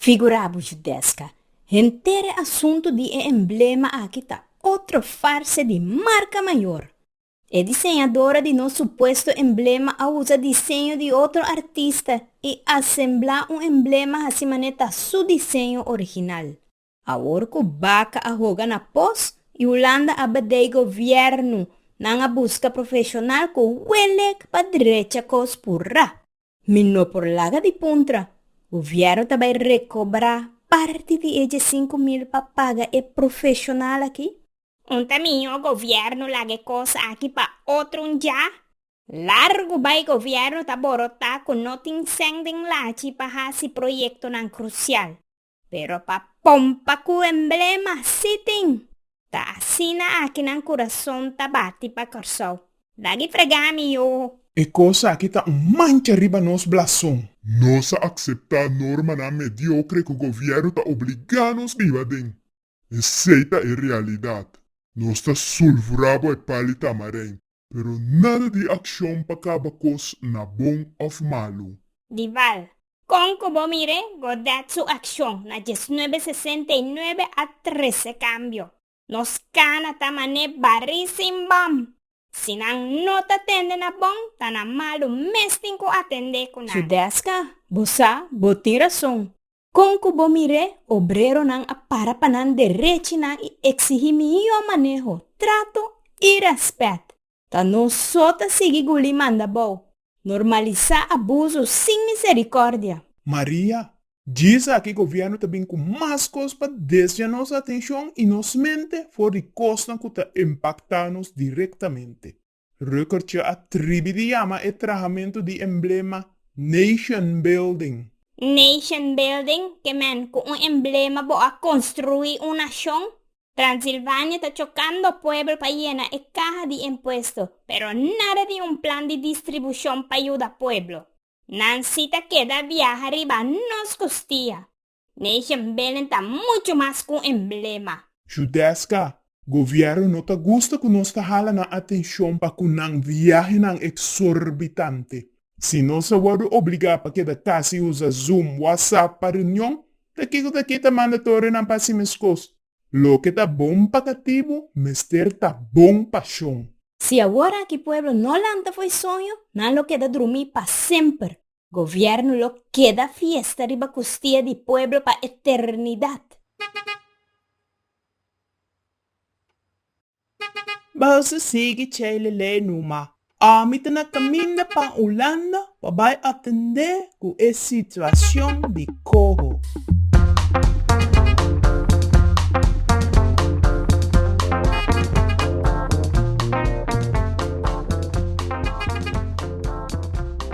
Figurá bo Judesca, henter e asuntu di e emblema aki ta otro farse di marca mayor. E diseñadora di nos supuesto emblema a usa diseño di otro artista y asembla un emblema hasi mane ta su diseño original. Awor ku baka a hoga na pos i Hulanda a bedei govièrnu, nan a buska profeshonal ku welek pa drecha kos purá. Mi no por laga di puntra, govièrnu ta bai rekobrá parti di e diesinku mil pa paga e profeshonal akí? Un ta mihó govièrnu laga e kos akí pa otro un dja? Largu bai govièrnu ta borotá ku no tin sèn den lachi pa hasi proyektonan krusial. Pero pa pompa ku emblema, sí tin! Ta asina aki nan kurason ta bati pa Kòrsou. Da di frega mi oho. E kos aki ta un mancha riba nos blason. Nos a akseptá normanan mediokre ku gobièrnu ta obligá nos biba den. Esei ta e realidat. Nos ta sulvurá bo e pali tamarènt. Pero nada di accion pa caba cos na bon of malu. Dival, Con cu bo mire Godet su accion na diesnuebe sesenta y nuebe a trece cambio. Nos cana ta mane bari sin bam. Si nan no ta tende na bon ta na malu mes tin cu a tende cu nan. Su desca, Bo sa bo tin rason. Kon ku bo mir'é obreronan a para pa nan derechinan i eksigí mihó maneho, trato i rèspèt? Ta nos so ta sigui gulí mandabou, normalisá abuso sin miserikòrdia? Maria, Djis aki gobièrnu ta bin ku mas kos pa desvia nos atenshon i nos mente for di kosnan ku ta impaktá nos direktamente. Reukertje a tribi di yama e trahamentu di emblema Nationbuilding. Nationbuilding ke men ku un emblema bo a konstruí un nashon? Transilvania ta chokando pueblo pa yena e kaha di impuesto, pero nada di un plan di distribushon pa yuda pueblo. Nan si ta keda biaha riba nos kustia. Nation Building ta mucho mas cu un emblema. Judesca, Gobierno no ta gusta cu nos ta hala nan atencion pa cu nan viahenan exorbitante. Si nos a wordo obliga pa keda casa y usa Zoom, WhatsApp pa reunion, ta kico ta kita mandatorenan pa hasi mescos? Loke ta bon pa catibu mester ta bon pa shon. Si awor aki pueblo no lanta fo'i soño, nan lo keda drumi pa semper. Gobierno lo keda fiesta riba kustia di pueblo pa eternidad. Bas a sigui cei lele numa. Ami ta na caminda pa Hulanda pa bay atende cu e situacion di coho.